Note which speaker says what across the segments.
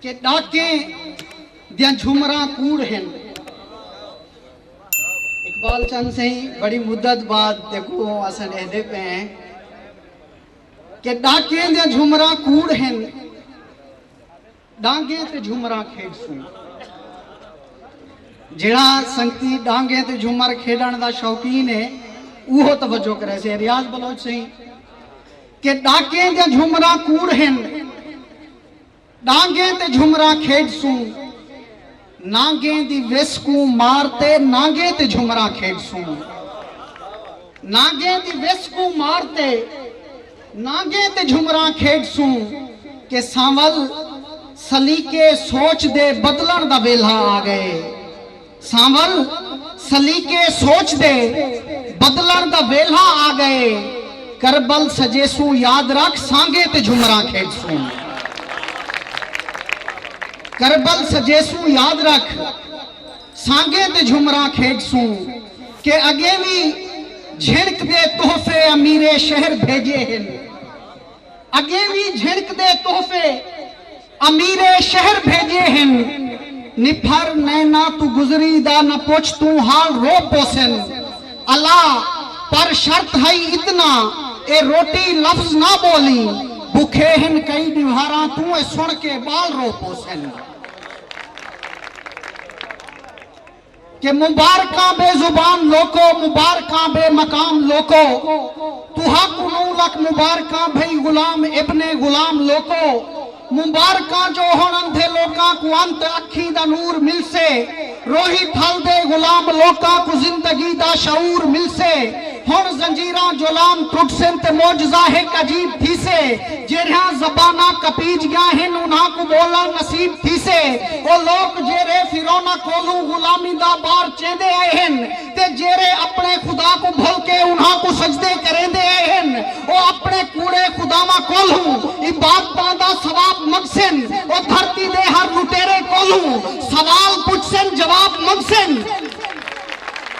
Speaker 1: کہ ݙاکیں دیاں جھمراں کوڑ ہن۔ اقبال چند سئیں بڑی مدت بعد جیکوں اساں ݙیہدے پئے ہیں کہ ݙاکیں دیاں جھمراں کوڑ ہن ݙانگیں تے جھمراں کھیݙسوں۔ جیڑھا سنگتی ݙانگیں تے جھمر کھیݙݨ دا شوقین ہے اوہو توجہ کریسے۔ ریاض بلوچ سئیں۔ کہ ݙاکیں دے جھمراں کوڑ ہن ݙانگیں تے جھمراں کھیݙسوں نانگیں دی وس کوں مار تے نانگیں تے جھمراں کھیݙسوں نانگیں دی وس کوں مار تے نانگیں تے جھمراں کھیݙسوں کہ سانول سلیقے سوچ دے بدلݨ دا ویلھا آ ڳئے۔ سانول سلیقے سوچ دے بدلݨ دا ویلھا آ ڳئے کربل سڄیسوں یاد رکھ سانگے تے جھمراں کھیݙسوں کربل سڄیسوں یاد رکھ سانگے تے جھمراں کھیݙسوں کہ اڳیں وی جھݨک دے تحفے امیرے شہر بھیڄے ہن اڳیں وی جھݨک دے تحفے امیر شہر بھیجے ہن نپھر نینا توں گزری دا نہ پچھ توں حال رو پوسن الا پر شرط ہئی اتنا اے روٹی لفظ نہ بولیں بکھے ہن کئی ڈیوہاراں توں اے سن کے بال رو پوسن۔ کہ مبارکاں بے زبان لوکو مبارکاں بے مقام لوکو تہاکوں نو لکھ مبارکاں بھئی غلام ابن غلام لوکو مبارکاں جو ہن اندھے لوکاں کوں انت اکھیں دا نور ملسے روہی تھل دے غلام لوکاں کوں زندگی دا شعور ملسے ہݨ زنجیراں جولان ٹرٹسن تے معجزہ ہک عجیب تھیسے۔ جیرھیاں زباناں کپیج ڳیاں ہن انھاں کوں ٻولݨ نصیب تھیسے۔ او لوک جیرھے فرعوناں کولھوں غلامی دا بار چیندے آئے ہن تے جیرھے اپݨے خدا کوں بھل کے انھاں کوں سجدے کریندے آئے ہن او اپݨے کوڑے خداواں کولھوں عبادتاں دا ثواب منگسن۔ او دھرتی دے ہر لٹیرے کولھوں سوال پچھسن جواب منگسن۔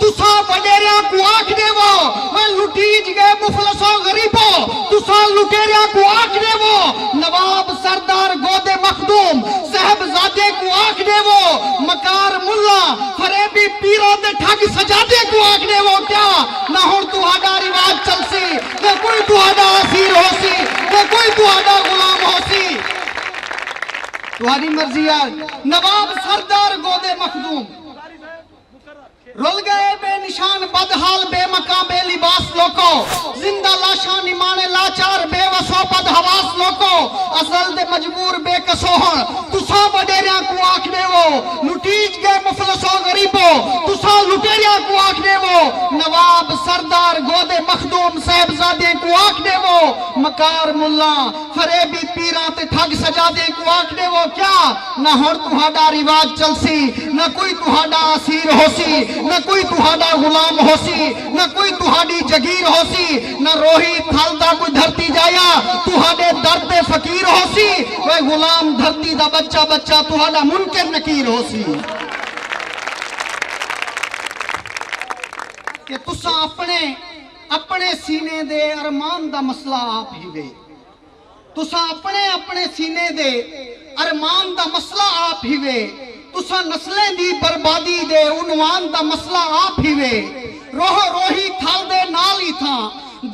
Speaker 1: تساں وݙیریاں کوں آکھ ݙیوو، میں لٹیج ڳئے مفلسو غریبو، تساں لٹیریاں کوں آکھ ݙیوو، نواب سردار گودے مخدوم صاحبزادیاں کوں آکھ ݙیوو، مکار ملا، فریبی پیراں تے ٹھڳ سجادیاں کوں آکھ ݙیوو کیا نہ ہݨ تہاݙا رواج چلسی، نہ کوئی تہاݙا اسیر ہوسی، نہ کوئی تہاݙا غلام ہوسی۔ تہاݙی مرضی آ نواب سردار گودے مخدوم۔ رل گئے بے نشان بد حال بے مکاں بے لباس لوکو زندہ لاشاں نمانے لاچار بے وسو بد حواس لوکو ازل دے مجبور بے کسو ہن تساں وڈیریاں کوں آکھ ڈیوو لٹیج گئے مفلسو غریبو تساں لٹیریاں کوں آکھ ڈیوو نواب سردار گودے مخدوم صاحبزادیں کوں آکھ ڈیوو مکار ملاں فریبی پیراں تے ٹھگ سجادیں کوں آکھ ڈیوو کیا نہ ہݨ تہاݙا رواج چلسی، نہ کوئی تہاݙا اسیر ہوسی، نہ کوئی تہاݙا غلام ہوسی، نہ کوئی تہاݙی جگیر ہوسی، نہ روہی تھل دا کوئی دھرتی ڄایا تہاݙے در تے فقیر ہوسی، اوئے غلام دھرتی دا ٻچہ ٻچہ تہاݙا منکر نکیر ہوسی۔ کہ تساں اپݨے اپݨے سینے دے ارمان دا مسئلہ آپ ہیوے۔ تساں اپݨے اپݨے سینے دے ارمان دا مسئلہ آپ ہیوے، تساں نسلیں دی بربادی دے عنوان دا مسئلہ آپ ہیوے، روح و روحی تھل دے نال ای تھاں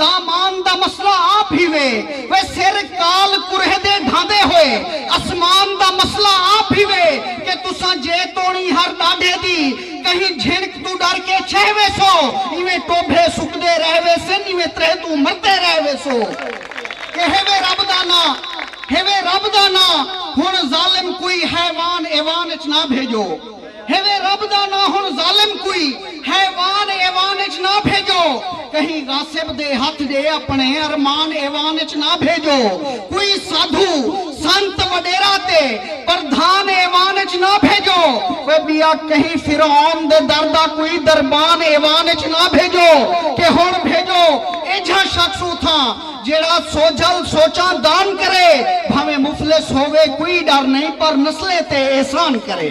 Speaker 1: دامان دا مسئلہ آپ ہیوے، و سر کال کرہ دے ڈھاندے ہوئے اسمان دا مسئلہ آپ ہیوے کہ تساں جے توڑیں ہر ڈاڈھے دی کہیں جھنک توں ڈر کے چھہ ویسو، ایویں ٹوبھے سکدے رہ ویسن، ایویں ترہ توں مردے رہ ویسو۔ کہ ہوے رب دا ناں ہوے رب دا ناں ہن ظالم کوئی حیوان ایوان اچ نہ بھیجو ہوے رب دا ناں ہن ظالم کوئی حیوان ایوان اچ نہ بھیجو کہیں غاصب دے ہتھ ڈے اپنے ارمان ایوان اچ نہ بھیجو کوئی سادھو سنت وڈیرا تے پردھان ایوان اچ نہ بھیجو۔ اوئے ٻیا کہیں فرعون دے در دا کوئی دربان ایوان اچ نہ بھیجو کہ ہݨ بھیجو ایجھا شخص اتھاں جیڑھا سوجھل سوچاں دان کرے بھانویں مفلس ہووے کوئی ݙر نئیں پر نسلیں تے احسان کرے۔